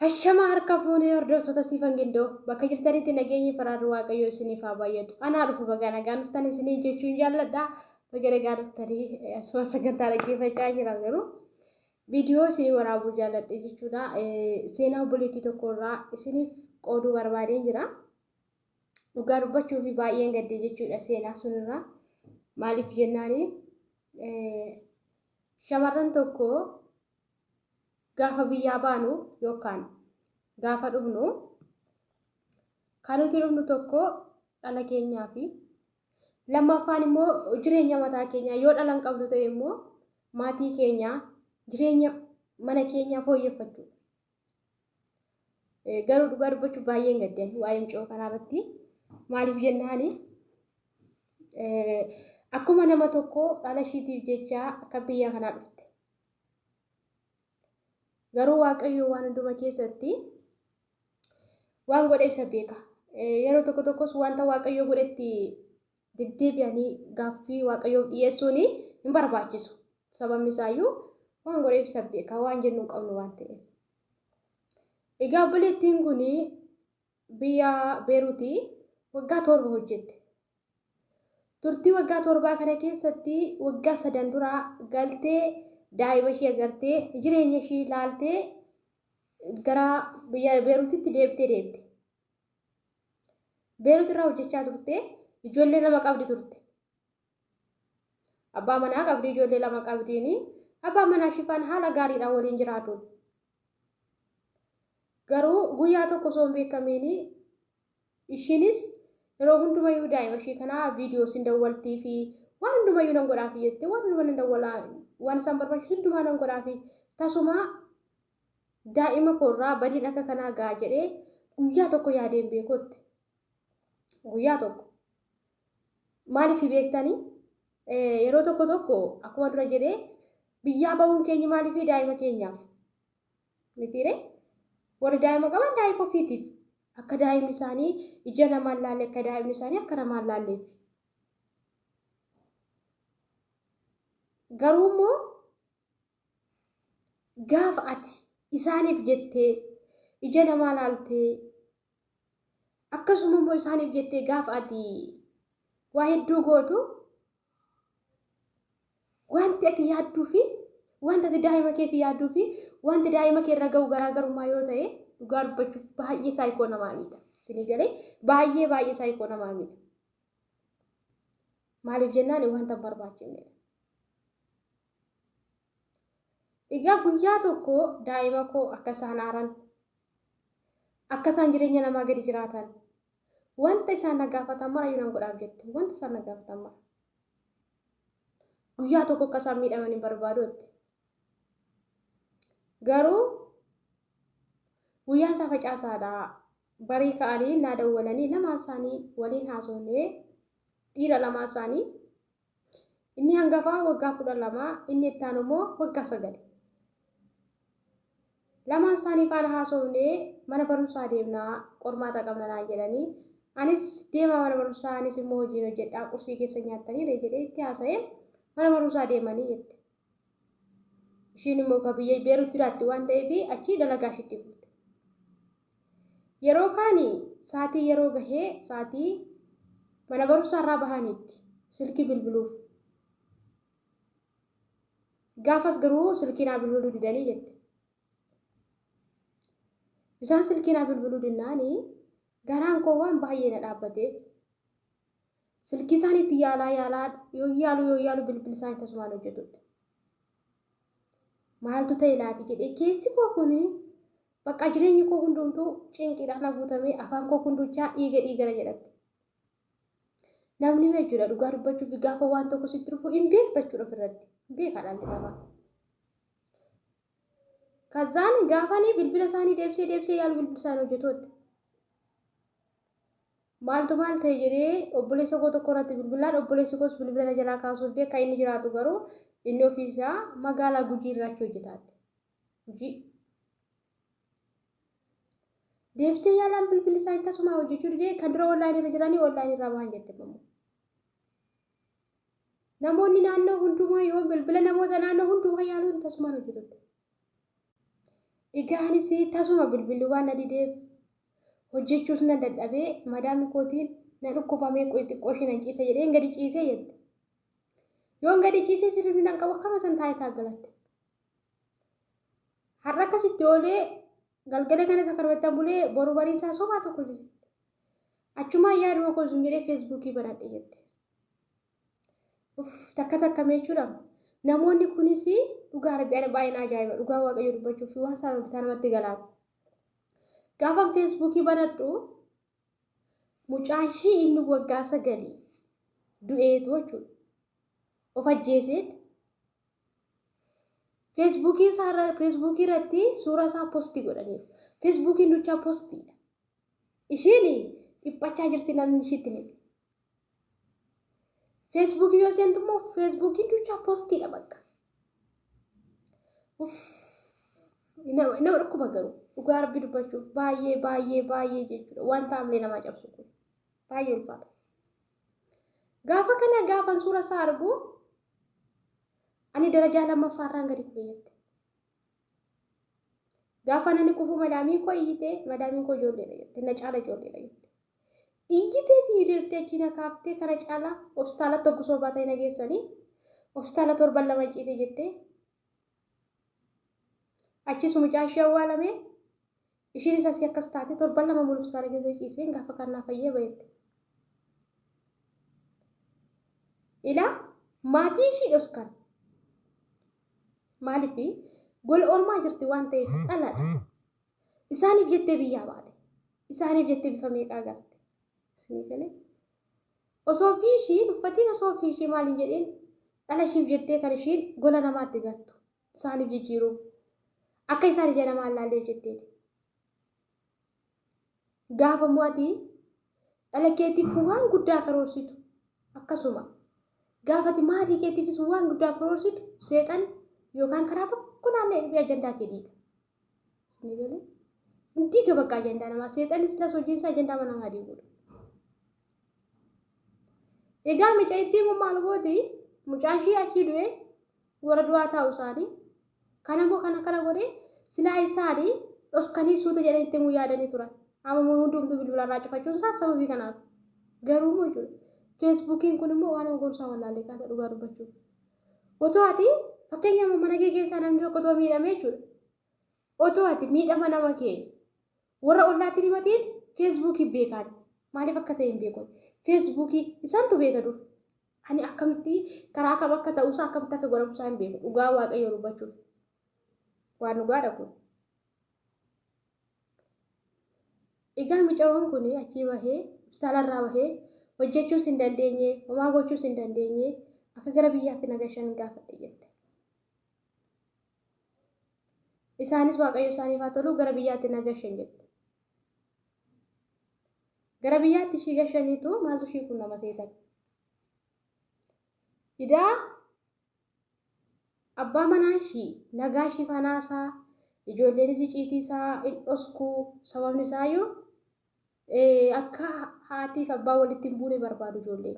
Hashama harka fuunee hordoftoota siifan gindoo bakka jirtanitti nageenyi faraarri waaqayyoo isiniif haa baay'atu. Anaa dhufu bagaa nagaan dhuftan isiniin jechuun jaalladha. Baga nagaan dhuftanii asuma sagantaa dhaggeeffachaa jira garuu viidiyoo isinii waraabuu jaalladhe jechuudha. Seenaa obboleettii tokko irraa isiniif qooduu barbaadeen jira. Dhugaa dubbachuu fi baay'een gaddee jechuudha seenaa sunirraa. Maaliif jennaani shamarran tokko Gaafa biyyaa baanu yookaan gaafa dhufnu kan nuti dhufnu tokko dhala keenyaa fi lammaffaan immoo jireenya mataa keenyaa yoo dhalan qabdu ta'e immoo maatii keenyaa jireenya mana keenyaa fooyyeffachuu. Garuu dhugaa dubbachuu baay'een gaddeen waa'ee mucoo kanaarratti maaliif jennaani akkuma nama tokko dhala ishiitiif jecha akka biyya kanaa dhufte Garuu Waaqayyo waan hunduma keessatti waan godhe ibsa beeka. Yeroo tokko tokkos wanta Waaqayyo godhetti deddeebi'anii gaaffii Waaqayyoof dhiyeessuun hin barbaachisu. Sababni isaayyuu waan godhe ibsa beeka waan jennu hin qabnu waan ta'eef. Egaa obboleettiin kun Biyya Beeruti waggaa torba hojjette. Turtii waggaa torbaa kana keessatti waggaa sadan dura galtee daa'ima ishii agartee jireenya ishii ilaaltee gara biyya Beerutitti deebitee deebite. Beerut irraa hojjechaa turte ijoollee lama qabdi turte. Abbaa manaa qabdi, ijoollee lama qabdiini. Abbaan manaa Shifaan haala gaariidhaan waliin jiraatu. Garuu guyyaa tokko osoo hin beekamiini ishiinis yeroo hundumayyuu daa'ima ishii kanaa viidiyoo sin dawwaltii fi waan hundumayyuu nan godhaafi jette waan hundumaa nan dawwalaa waan isaan barbaachisu hundumaa nan godhaafi tasumaa daa'ima koorraa badiin akka kanaa ga'a jedhee guyyaa tokko yaadeen beekutti guyyaa tokko maaliif beektanii yeroo tokko tokko akkuma dura jedhee biyyaa ba'uun keenya maaliif daa'ima keenyaaf mitiire warri daa'ima qaban daa'ima ofiitiif akka daa'imni isaanii ija namaan laalle akka daa'imni isaanii akka namaan laalleef garuu immoo gaafa ati isaaniif jettee ija namaa laaltee Akkasuma immoo isaaniif jettee gaafa ati waa hedduu gootu wanti ati yaadduu fi wanti ati daa'ima keef yaadduu fi wanti daa'ima kee irra ga'u garaagarummaa yoo ta'e dhugaa dubbachuuf baay'ee saayikoo namaa miidha. Isinii galee baay'ee baay'ee saayikoo namaa miidha. Maaliif jennaan wanta hin barbaachifnedha. Egaa guyyaa tokko daa'ima koo akka isaan aaran, akka isaan jireenya namaa gadi jiraatan, wanta isaan na gaafatan mara iyyuu nan godhaaf jette. Wanta isaan na gaafatan mara. Guyyaa tokko akka isaan miidhaman hin barbaadu jette. Garuu guyyaan isaa facaasaadha. Barii ka'anii naa dawwalanii lamaan isaanii waliin haasofnee dhiira lamaan isaanii Inni hangafaa waggaa kudha lama, inni itti aanu immoo waggaa sagal. Lamaan isaanii faana haasofnee mana barumsaa deemnaa qormaata qabna naan jedhanii anis deemaa mana barumsaa anis immoo hojiin hojjedhaa qursii keessa nyaattanii ree jedhee itti haasa'een mana barumsaa deemanii jette. Ishiin immoo ka biyya Beerut jiraatti waan ta'eef achii dalagaa ishiitti fuute. Yeroo kaani saatii yeroo gahee saatii mana barumsaa irraa bahaniitti silkii bilbiluuf. Gaafas garuu silkii naa bilbiluu didanii jette. Isaan silkii naa bilbiluu dinnaani garaan koo waan baay'ee na dhaabbateef Silkii isaanii itti yaalaa yaalaa yoo yaalu yoo yaalu bilbil isaanii tasumaan hojjetudha. Maaltu ta'e laati jedhee keessi koo kun bakka jireenyi koo hundumtuu cinqiidhaan haguutamee afaan koo kunduchaa dhiiga dhiigana jedhatti. Namni jechuudha dhugaa dubbachuuf gaafa waan tokko sitti dhufu hin beekta jechuudha ofirratti. Hin beekaa dhalli namaa. Kazaan gaafanii bilbila isaanii deebisee deebisee yaalu bilbila isaanii hojjetootti. Maaltu maal ta'e jedhee obboleessa koo tokko irratti bilbilaan obboleessi koos bilbila na jalaa kaasuu didee kan inni jiraatu garuu inni ofii isaa magaalaa Gujii irraa achi hojjetaatti. Gujii. Deebisee yaalaan bilbilli isaa tasumaa hojjechuu didee kan dura online irra jiranii online irraa bahan jette immoo. Namoonni naannoo hundumaa yoo bilbila namoota naannoo hundumaa yaaluun tasumaan hojjetudha. Dhigaanis tasuma bilbilli waan na dideef hojjechuus nan dadhabee madaamni kootiin na dhukkubamee qoy xiqqoo ishee nan ciisa jedheen gadi ciisee jette. Yoon gadi ciisee sirriin nan qabu akkama san taayitaa galatte. Har'a akkasitti oolee galgala kanas akkanumattan bulee boru bariisaa sobaa tokko jette. Achumaan yaaduma koo zim jedhee feesbuukii banadhe jette. Uff, takka takka mee jechuudha. Namoonni kunis dhugaa rabbi ana baay'ee na ajaa'iba dhugaa waaqayyo dubbachuuf waan isaan bitaa namatti galaan. Gaafan feesbuukii banadhu mucaa ishii inni waggaa sagalii du'eetu jechuudha. Of ajjeeseeti. Feesbuukii isaa irra- feesbuukii irratti suuraa isaa postii godhaniiru. Feesbuukiin duchaa postiidha. Ishiin dhiphachaa jirti namni ishiitti hin himne. Feesbuukii yoo seentu immoo feesbuukiin duuchaa poostiidha bakka. Nama dhukkuba garuu dhugaa rabbi dubbachuuf baay'ee baay'ee baay'ee jechuudha wanta hamilee namaa cabsu kun baay'ee ulfaata. Gaafa kana gaafan suura isaa argu ani darajaa lammaffaa irraan gadi kufee jette. Gaafa ani kufu madaamii koo iyyite madaamiin koo ijoolleedha jette na caala ijoolleedha jette. Iyyitee fi hideertee achii na kaaftee kana caalaa hospitaalatti hoggusa obaa ta'e na geessanii hospitaala torban lama ciise jettee achiis mucaa ishee awwaalamee ishiin isas akkas taate torban lama mulu hospitaala keessa ciiseen gaafa kannaa fayyee bayetti. Ilaa maatii ishii dhoskan maaliif gola ormaa jirti waan ta'eef dhalaadha. Isaaniif jettee biyyaa baate. Isaaniif jettee bifa meeqaa garte. Isinii galee. Osoo ofii ishii uffatiin osoo ofii ishii maal hin jedhiin dhala ishiif jettee kan ishiin gola namaatti galtu. Isaaniif jijjiiruuf. Akka isaan ija namaa hin laalleef jetteeti. Gaafa immoo ati dhala keetiif waan guddaa karoorsitu akkasuma gaafa ati maatii keetiifis waan guddaa karoorsitu seexan yookaan karaa tokko naanna'ee dhufee ajandaa kee diiga. Isinii galee? Hin diiga bakka ajandaa namaa. Seexanni silas hojiin isaa ajandaa mana namaa diiguudha. Egaa mucaa ittiin kun maal gooti? Mucaan ishii achii du'ee warra du'aa taa'u isaanii. Kan ammoo kan akkana godhee silaa isaanii dhoskanii suuta jedhanii ittiin kun yaadanii turan. Amma hundumtuu bilbilarraa cufachuun isaa sababii kanaaf. Garuu immoo jechuudha. Feesbuukiin kun immoo waan gorsaa wallaalee kaasa dhugaa dubbachuuf. Otoo ati fakkeenya mana kee keessaa namni tokko otoo miidhamee jechuudha. Otoo ati miidhama nama kee warra ollaatti himatiin feesbuukii beekaan maaliif akka ta'e hin beekun feesbuukii isaantu beeka dur. Ani akkamitti karaa kam akka ta'uusaa akkamitti akka godhamusaa hin beeku dhugaa waaqayyoo dubbachuuf waan dhugaadha kun. Egaa micaroon kun achii bahee hospitaalarraa bahee hojjechuus hin dandeenye homaa gochuus hin dandeenye akka gara biyyaatti nagashan gaafadhe jette. Isaanis waaqayyo isaaniif haa tolu gara biyyaatti nagashan jette. Gara biyyaatti ishii gashaniitu maaltu ishii qunnama seetan. Idaa Abbaa manaa ishii nagaa ishiif hanaasaa, ijoolleenis iciitii isaa in dhosku, sababni isaayuu akka haatiif abbaa walitti hin buune barbaadu ijoolleen.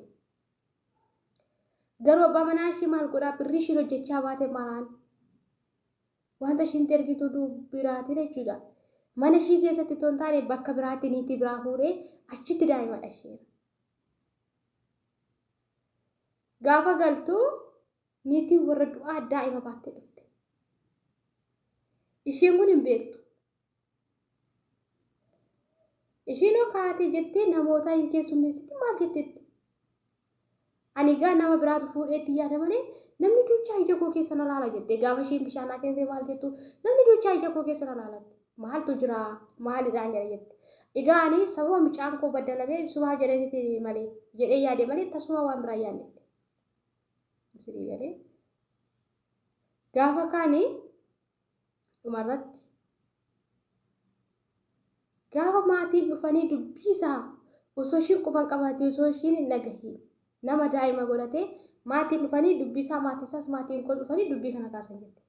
Garuu abbaa manaa ishii maal godhaa birrii ishiin hojjechaa baate maraan wanta ishiin ergitu biraatiin jechuudha. Mana ishii keessatti otoo hin taane bakka biraatti niitii biraa fuudhee achitti daa'ima dhasheera. Gaafa galtu niitiin warra du'aa daa'ima baattee dhufte. Isheen kun hin beektu. Isheen hoo kaatee jettee namoota hin keessummeessiti maal jettetti? Ani egaa nama biraatu fuudheetti yaada malee namni duuchaa ija koo keessa na laala jettee gaafa isheen bishaan akeente maal jettu namni duuchaa ija koo keessa na laalatti. maaltu jira maalidhaan jedha jette egaa ani sababa mucaan koo baddalamee ibsumaaf jedhaniiti malee jedhee yaade malee tasuma waan biraa yaadne isinii galee gaafa kaani dhumarratti gaafa maatiin dhufanii dubbiisaa osoo ishiin quban qabaate osoo ishiin hin dhagahiin nama daa'ima godhatee maatiin dhufanii dubbiisaa maatiisaas maatiin koo dhufanii dubbii kana kaasan jette.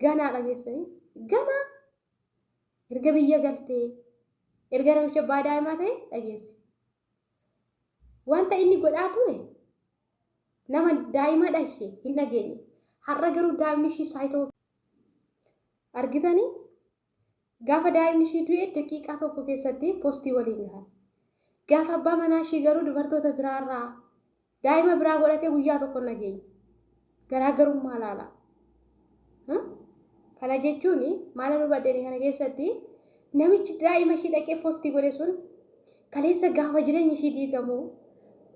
ganaa dhageessanii ganaa erga biyya galtee erga namicha abbaa daa'imaa ta'e dhageessi. Wanta inni godhaa ture nama daa'imaa dhashe hin dhageenye. Har'a garuu daa'imni ishii saayitoo argitanii Gaafa daa'imni ishii du'e daqiiqaa tokko keessatti postii waliin gahan. Gaafa abbaa manaa ishii garuu dubartoota biraarraa daa'ima biraa godhatee guyyaa tokko hin dhageenye. Garaagarummaa laala. Kana jechuun maala nu baddeenii kana keessatti namichi daa'ima ishii dhaqee postii godhe sun Kaleessa gaafa jireenyi ishii diigamu,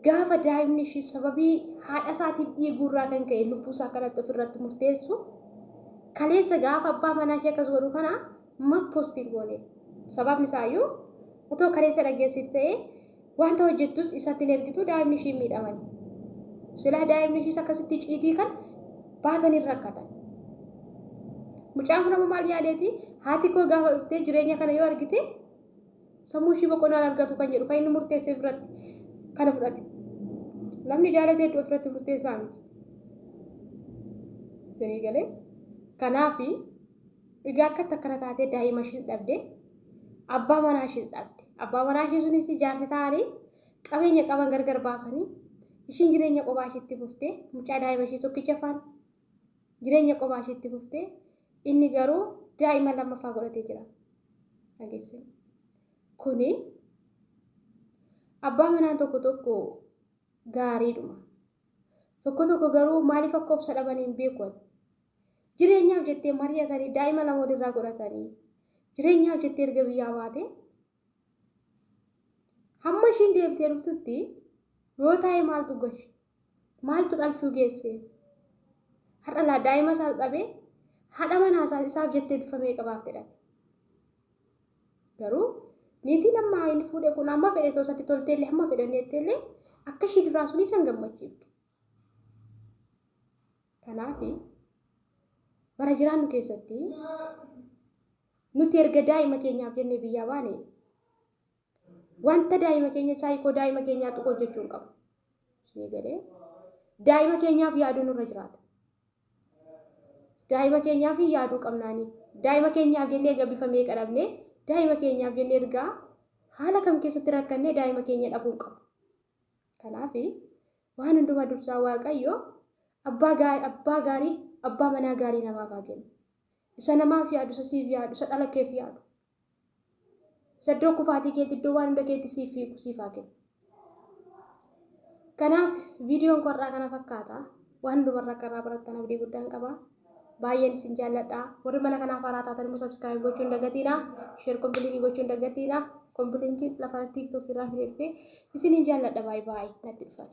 gaafa daa'imni ishii sababii haadha isaatiif dhiiguu irraa kan ka'e lubbuu isaa kanatti of irratti murteessu, kaleessa gaafa abbaa manaa ishee akkas godhu kana maaf post hin goone? Sababni isaa iyyuu otoo kaleessa dhageessite ta'ee wanta hojjettus isatti hin ergitu daa'imni ishii hin miidhamani. Silaa daa'imni ishiis akkasitti ciitii kan baatan hin rakkatan. Mucaan kun amma maal yaadeeti? Haati koo gaafa dhuftee jireenya kana yoo argite Sammuu ishii boqonnaan argatu kan jedhu kan inni murteesseef irratti kana fudhate. Namni jaalate hedduu ofirratti murteessaa miti. Isinii galee kanaaf egaa akka takkana taatee daa'ima ishiis dhabde abbaa manaa ishiis dhabde abbaa manaa ishii sunis jaarsi ta'anii qabeenya qaban gargar baasanii ishiin jireenya qophaa ishiitti fuftee mucaa daa'ima ishii tokkicha faana Jireenya qofaa ishii itti fufte. Inni garuu daa'ima lammaffaa godhatee jira. Dhageessuun. Kuni abbaa manaa tokko tokko gaariidhuma. Tokko tokko garuu maaliif akka obsa dhaban hin beeku ani. Jireenyaaf jettee mari'atanii daa'ima lama walirraa godhatanii jireenyaaf jettee erga biyyaa baate hamma ishiin deebitee dhuftutti yoo taa'e maaltu gashi Maaltu dhalchuu geesse? Har'a laa daa'ima isaas dhabee haadha manaa isaas isaaf jettee bifa meeqa baafte dhabe. Garuu niitiin amma inni fuudhe kun amma fedhe osoo isatti tolteellee hamma fedhan jetteellee akka ishii duraa sun isan gammachiiftu. Kanaaf bara jiraannu keessatti nuti erga daa'ima keenyaaf jennee biyyaa baane Wanta daa'ima keenya saayikoo daa'ima keenyaa tuqu hojjechuu hin qabu. Ishee galee daa'ima keenyaaf yaaduu nurra jiraata. Daa'ima keenyaaf yaaduu qabnaanii. Daa'ima keenyaaf jennee egaa bifa meeqa dhabnee daa'ima keenyaaf jennee ergaa haala kam keessatti rakkannee daa'ima keenya dhabuu hin qabu. Kanaaf waan hundumaa dursaa Waaqayyo abbaa gaa- abbaa gaarii abbaa manaa gaarii namaaf haa kennu. Isa namaaf yaadu isa siif yaadu isa dhala keef yaadu. Saddoo kufaatii keetti iddoo waan hunda keetti siif fiigu siif haa kennu. Kanaaf viidiyoon koo har'aa kana fakkaata. Waan hundumarraa akka irraa barattan abdii guddaan qaba. Baay'een isin jaalladha. Warri mana kanaaf haaraa taatan immoo sabskiraayib gochuu hin dagatiina. Sheer kompiiliinkii gochuu hin dagatiina. Kompiiliinkiin lafa tiiktookii irraa fidee dhufe. Isiniin jaalladha baay'ee baay'ee natti dhufan.